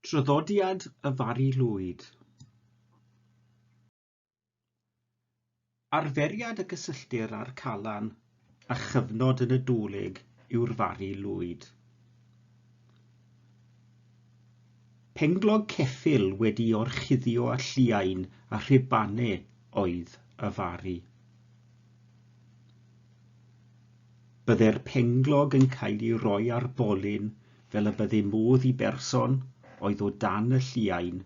Traddodiad y Fari Lwyd. Arferiad y gysylltir â'r Calan a chyfnod yn y Dúlig yw'r Fari Lwyd. Penglog ceffyl wedi orchuddio a lliain a rhibane oedd y Fari. Byddai'r penglog yn cael ei roi ar bolyn fel y bydde modd i berson oedd o dan y lliain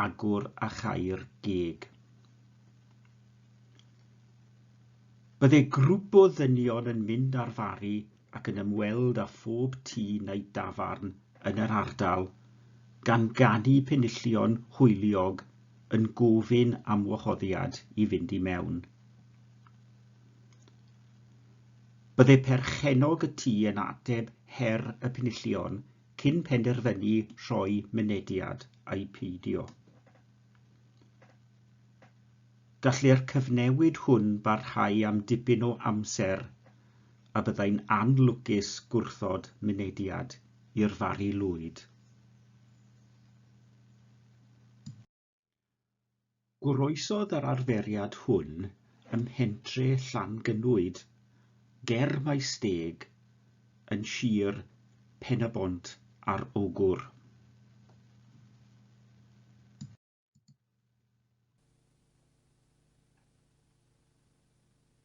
agor a chau'r geg. Byddai grŵp o ddynion yn mynd ar fari ac yn ymweld â phob tŷ neu dafarn yn yr ardal, gan ganu penillion hwyliog yn gofyn am wahoddiad i fynd i mewn. Byddai perchennog y tŷ yn ateb her y penillion cyn penderfynu rhoi mynediad ai peidio. Gallai'r cyfnewid hwn barhau am dipyn o amser a byddai'n anlwcus gwrthod mynediad i'r Fari Lwyd. Goroesodd yr arferiad hwn ym mhentre Llangynnwyd, ger Maesteg, yn sir Pen-y-bont ar Ogwr.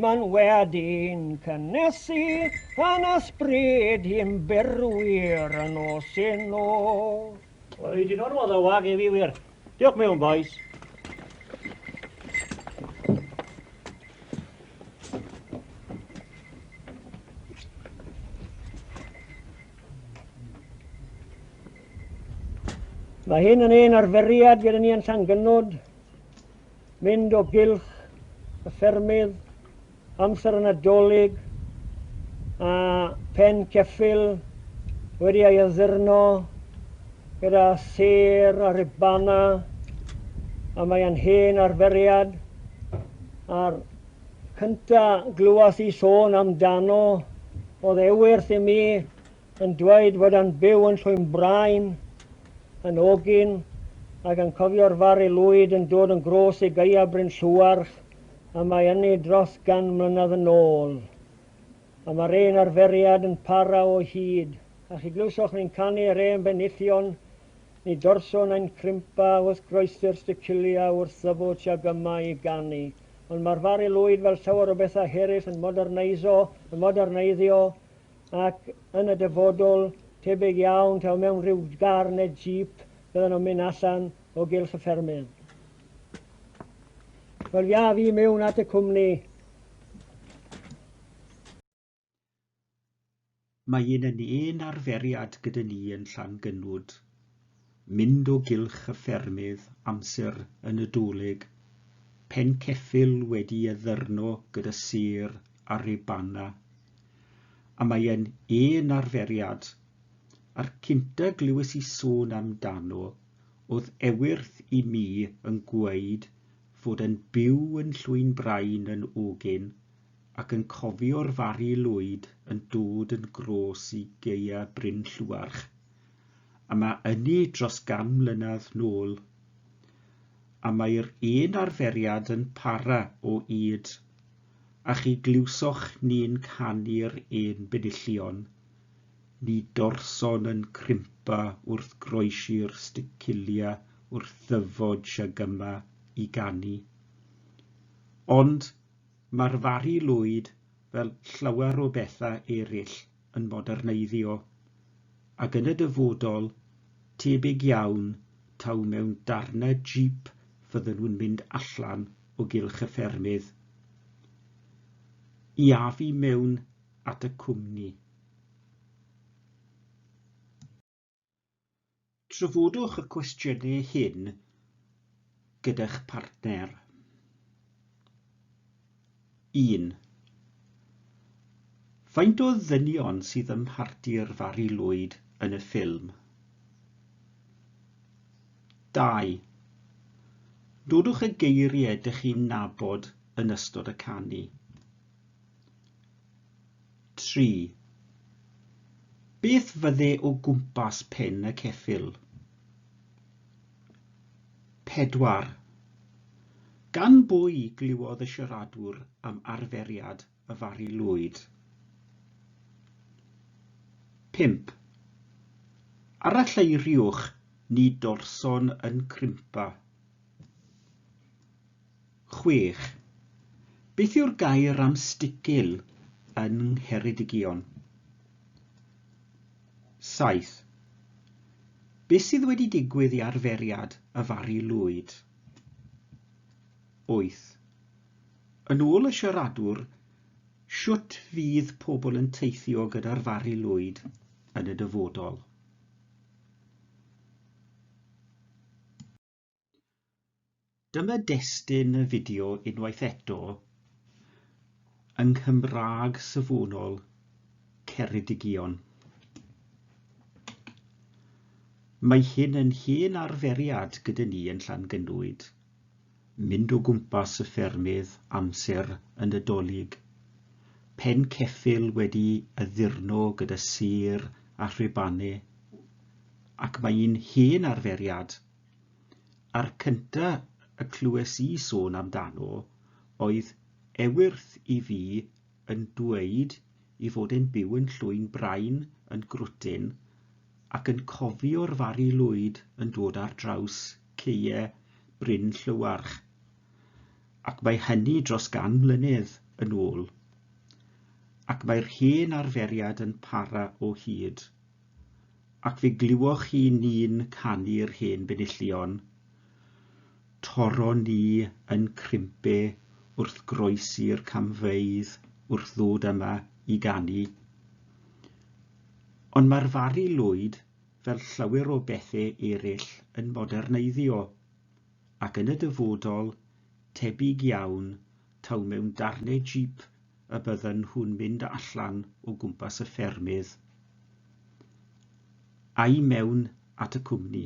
Mae'n wedi'n cynnesu yn ysbryd i'm berwyr yn nos yn nos. Wy di normal dda wag efi wir. Diolch mewn boys. Mae hyn yn ein arferiad gyda ni yn Llangynod mynd o gylch y ffermydd, amser y Nadolig a phen ceffyl wedi ei addurno gyda sêr a ribana a mae yn hen arferiad a'r cynta glywes i sôn amdano oedd ewyrth i mi yn dweud fod e'n byw yn Llwynbrain, yn ogyn, ac yn cofio'r Fari Lwyd yn dod yn grôs i Gaea Bryn Llewarch y mae ynni dros gan mlynedd yn ôl. A mae'r un arferiad yn para o hyd, a chi glywsoch ni'n canu yr hen benillion, ni dorson ein crimpa wrth groesi'r sticilia wrth ddyfod siag yma i ganu. Ond mae'r Fari Lwyd fel llawer o bethau herill yn moderneiso, yn moderneiddio, ac yn y dyfodol, tebyg iawn taw mewn rhyw gar neu jeep fyddan nhw'n mynd allan o gylch y ffermydd. Wel, ia, fi mewn at y cwmni. Mae un yn un arferiad gyda ni yn Llangynnwd. mynd o gylch y ffermydd amser yn y Dolig, pen ceffyl wedi addurno gyda sur a ribana, a mae e'n un arferiad, a'r cynta glywes i sôn amdano o'dd Ewythr i mi yn gweud fod e'n byw yn Llwyn Brain yn Ogyn ac yn cofio'r Fari Lwyd yn dod yn grôs i gaea Bryn Llwarch a mae ynni dros gan mlynedd nôl, a mae'r un arferiad yn para o ŷd, a chi glywsoch ni'n canu'r un benillion, ni dorson yn crimpa wrth groesi'r sticcilia wrth ddyfod siag yma i ganu. Ond mae'r fari lwyd fel llawer o bethau eraill. yn moderneiddio, ac yn y dyfodol, tebyg iawn taw mewn darnau jeep fydden nhw'n mynd allan o gylch y ffermydd i afu mewn at y cwmni. Trafodwch y cwestiynau hyn gyda'ch partner. 1. Faint o ddynion sydd ym mharti'r Fari Lwyd yn y ffilm? 2. Dodwch y geiriau dych chi'n nabod yn ystod y canu. Tri. Beth fydde o gwmpas pen y ceffyl? Pedwar. Gan bwy glywodd y siaradwr am arferiad y Fari Lwyd? Pump. Aralleiriwch ni dorson yn crimpa. Chwech. Beth yw'r gair am sticil yng Ngheredigion? Saith. Be sydd wedi digwydd i arferiad y Fari Lwyd? Wyth. Yn ôl y siaradwr, shwt fydd pobl yn teithio gyda'r Fari Lwyd yn y dyfodol? Dyma destun y fideo unwaith eto yng Nghymraeg safonol Ceredigion. Mae hyn yn hen arferiad gyda ni yn Llangynwyd, mynd o gwmpas y ffermydd amser y Nadolig, pen ceffyl wedi addurno gyda sur a rhubanau, Ac mae un hen arferiad, a'r cynta y clywes i sôn amdano oedd Ewyrth i fi yn dweud i fod e'n byw yn Llwyn Brain yn Grwtyn ac yn cofio'r Fari Lwyd yn dod ar draws caee Bryn Llywarch, ac mae hynny dros gan mlynedd yn ôl. Ac mae'r hen arferiad yn para o hyd. Ac fe glywoch chi ni'n canu'r hen benillion, Toron ni yn crimpe wrth groesi'r camfeydd wrth ddod yma i ganu. Ond mae'r Fari Lwyd, fel llawer o bethe ereill, yn moderneiddio, ac yn y dyfodol, tebyg iawn, taw mewn darnau jeep y bydden nhw'n mynd allan o gwmpas y ffermydd a'i mewn at y cwmni.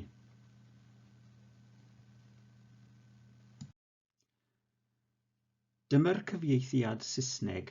Dyma'r cyfieithiad Saesneg.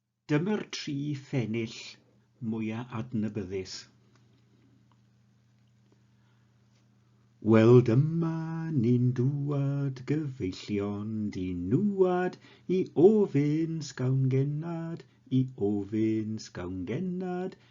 Dyma'r tri phennill mwya adnabyddus. Wel dyma ni'n dŵad gyfeillion di nŵad i ofyn sgawn gennad i ofyn sgawn gennad